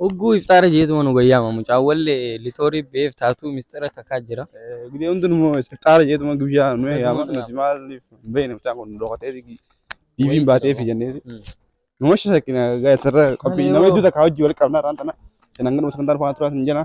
Hogguu ifxaara jeetuma nu bayyaama mucaa walle litoorii beef taatuu mistira takaa jira. Gudee hundun immoo ifxaara jeetuma guyyaa nu yaama nuti maaliif hin beekne mucaan kun dhokatee diiviin baatee fi jenneeti. Nama shakkina gaa'e sirra qophii nama iddoo takka hojii wal qabnaa irraan tana. Kanan ganu sagantaan faana turaa hin jenna.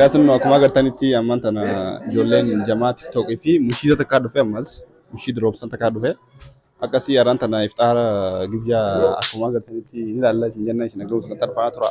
Yaasin akkuma agartanitti ammaan tana ijoolleen jamaa tiktookii fi mushiida takkaa dhufe ammas mushiid roobsan takkaa dhufe akkasii yaraan tana ifxaara gibyaa akkuma agartanitti ni ilaalla isin jenna isin agaruu sana tarfaa tura.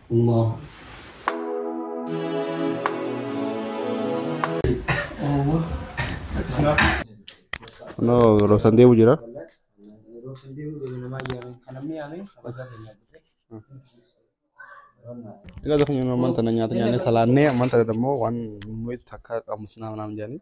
No, rosan deemu jira. Ila dafa nyaanni ammaan tana nyaata nyaanne salaannee ammaan tana immoo waan nuyi takka qabnu sinaa naam jedhanii.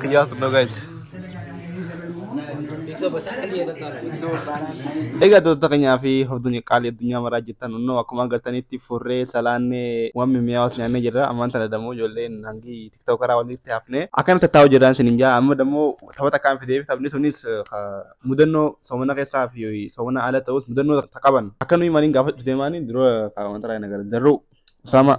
Kiyyaas no guys. Egaa doota keenyaa fi hordoftoonni qaalii addunyaa maraa jirtan hunduu akkuma agartanitti furree salaannee waan mimmi'aawas nyaannee jirra. Ammaan tana dammoo ijoolleen hangi tiktookaraa walitti hafnee akkana tattaa'u jiraan isin hin jaa. Amma dammoo taphata akkaan fidee fi taphni sunis mudannoo soomana keessaa fi soomana ala ta'us mudannoo qaban akka nuyi maaliin gaafachuu deemaanii dura wanta raayina gara zarruu Usaamaa.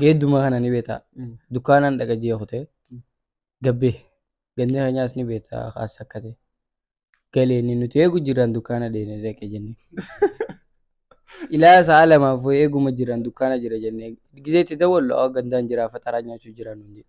Geedduma kana ni beektaa. Mm. Dukkaanaan dhaqa ji'a kutee. Mm. Gabbee. Ganni keenyaas ni beektaa kaas akkate. Galeenni nuti eegu jiraan dukkaana deemee dhaqe jennee. Ilaa sa'a lamaaf wayii eeguma jiraan dukkaana jira jennee. Gizeetti dawwallu awwa gandaan jiraa faxaraa nyaachuu jiraa nuun jedhe.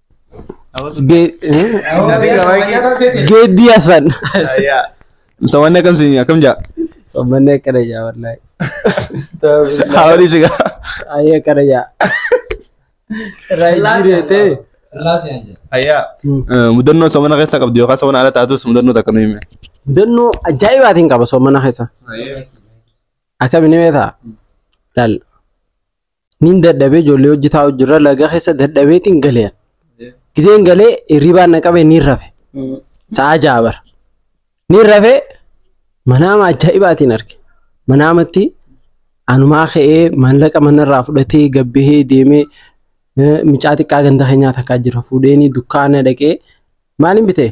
Geeddii Hasan. Samanni akkam siin akkam jaa? Sammanni akkana jaa wallaahi. Haawwanii si gaa. Ayee akkana jaa. Raayii deetee. Ayyaa. Mudannoo samana keessa qabdu yookaan samana ala taatus mudannoo takka nu hime. Mudannoo ajaa'ibaatiin qaba soomana keessa. Akkamiin himee ta'a? Laal. Nin dadhabee ijoollee hojii taa'u jirra laga keessa dadhabeetiin galee. Gizeen galee hirribaan na qabee niin rafe. Sa'a ja'a bara. Niin rafee manaama ajaa'ibaatiin arge. Manaamatti anumaa ka'ee maallaqa manarraa fudhatee gabbihee deemee eh, mucaa xiqqaa ganda keenyaa takkaa jira fuudheenii dukkaana dhaqee maaliin bitee?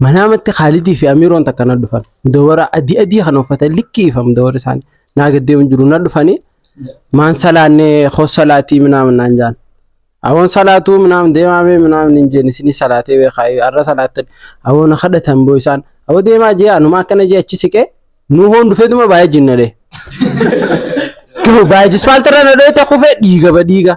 Manaamatti Khaalidii fi Amiiroon takka na dhufan. Mudawwara adii adii kan uffatan likkii ifa mudawwarri isaanii. Naa gaddee hin jiru na dhufanii maan salaannee hoos salaatii minaamin naan jaan. Awoon salaatuu minaamin deemaa mee minaamin hin jeen isinii salaatee beekaa arra salaattan awoon kadhatan boo isaan awoo deemaa jee anuma akkana jee achi siqee nuu hoon dhufeetuma baay'ee jinna dee. Baay'ee jispaaltarra na dho'ee ta'e kufee dhiiga ba dhiiga.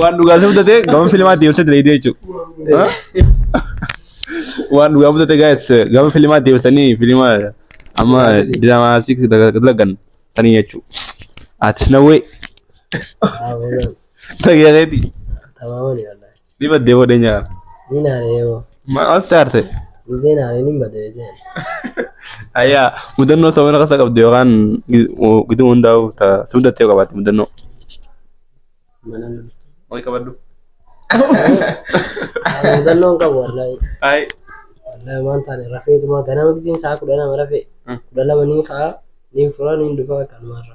Waan dhugaa si mudatee gama filimaa deebisee dalaydee jechuudha. Waan dhugaa mudatee gaa'es gama filimaa deebisanii filima amma diraamaa siik dalagan sanii jechuudha. Atis na wee. Tageereeti. Tabaawwan yaalaa. Dibadde bode nyaara. Ni naare yoo. Maal olte aarte? Gizee naare ni bade jee. Ayyaa mudannoo sabana kasa qabdu yookaan giduu hundaa'u ta'a. Si mudattee qabaatti mudannoo. Mana nu. Wal qabadhu. Mudannoon qabu wallaahi. Ay. Wallaahi waan taane rafeetuma ganama gizeen sa'a kudha lama rafee. Kudha lama ni ka'a. Ni fura ni dhufa kanumarra.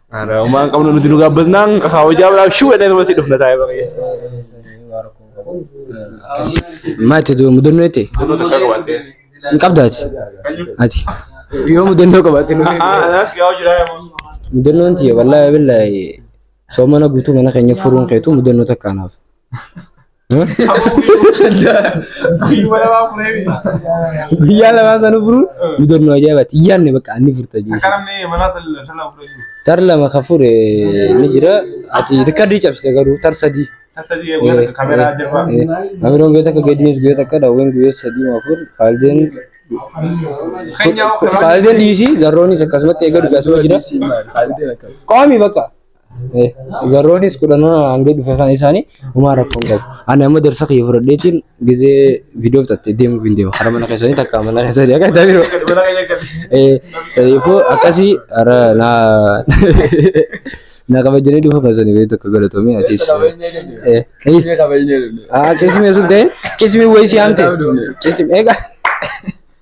Ara umaan qabnu nuti nu gabbasnaan kaawajaa biraaf shuu jedhee nama si dhufna taa'ee baay'ee. Maati dura mudannoo jettee? Mudannoo takka qabattee. Hin qabdaati. Ati. Yoo mudannoo qabaatte nu Mudannoon tiyya wallaahi billaahi soomana guutuu mana keenya furuun keetu mudannoo takka anaaf. Guyyuma lamaa furee miti. Guyyaa lamaa sana furuun mudannoo ajaa'ibaati. Yaanne bakka anni furta jechuudha. Akka namni manaa sallan sallan furee jiru. Tar lama kan fure ni jira. Ati rikkardii cabsite garuu tar sadii. Tasa jee guyyaa takka kameeraa jirba. Amiroon guyyaa takka gadiinis guyyaa takka daawween guyyaa sadii maa afur faaldeen Keenyaa kameeraa. faaldeen dhiisii zarroonis akkasumatti eega dhufe asuma jira. Qaami bakka. Garroonis kudhanoo hanga dhufe kan isaanii homaa rakkoon qabu. Ani amma darsa kiyya fudhadheetiin gidee viidiyoo fixattee deemuuf hin deema. Hara mana keessanii takka mana keessanii akka itti biiroo. Sadiifuu akkasii hara naa naa kabajanii dhufu keessanii gadi tokko galatoomii atis. Qismee sun ta'in qismii wayii si hamte. Qismii egaa.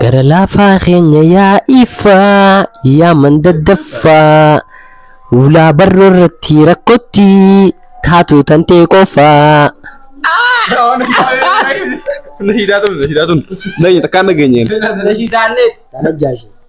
Gara laafaa keenya yaa ifaa yaa mandaddaffaa Ulaa barroo irratti rakkotti taatu tantee qofaa Nashiidaa tun, nashiidaa tun. Nageenye takkaan nageenyeen. Nashiidaa illee. Kana jaashee.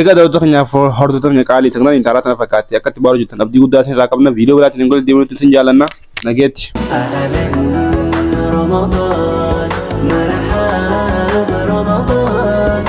Egaa daawwattoota keenyaaf hordoftoota keenya qaalii saglan intaalaa tana fakkaatti akkatti baaruu jirtan abdii guddaa isin irraa qabna viidiyoo biraatiin hin golle deemuutti isin jaallanna nageetti. Ramadan, Ramadan, Ramadan, Ramadan.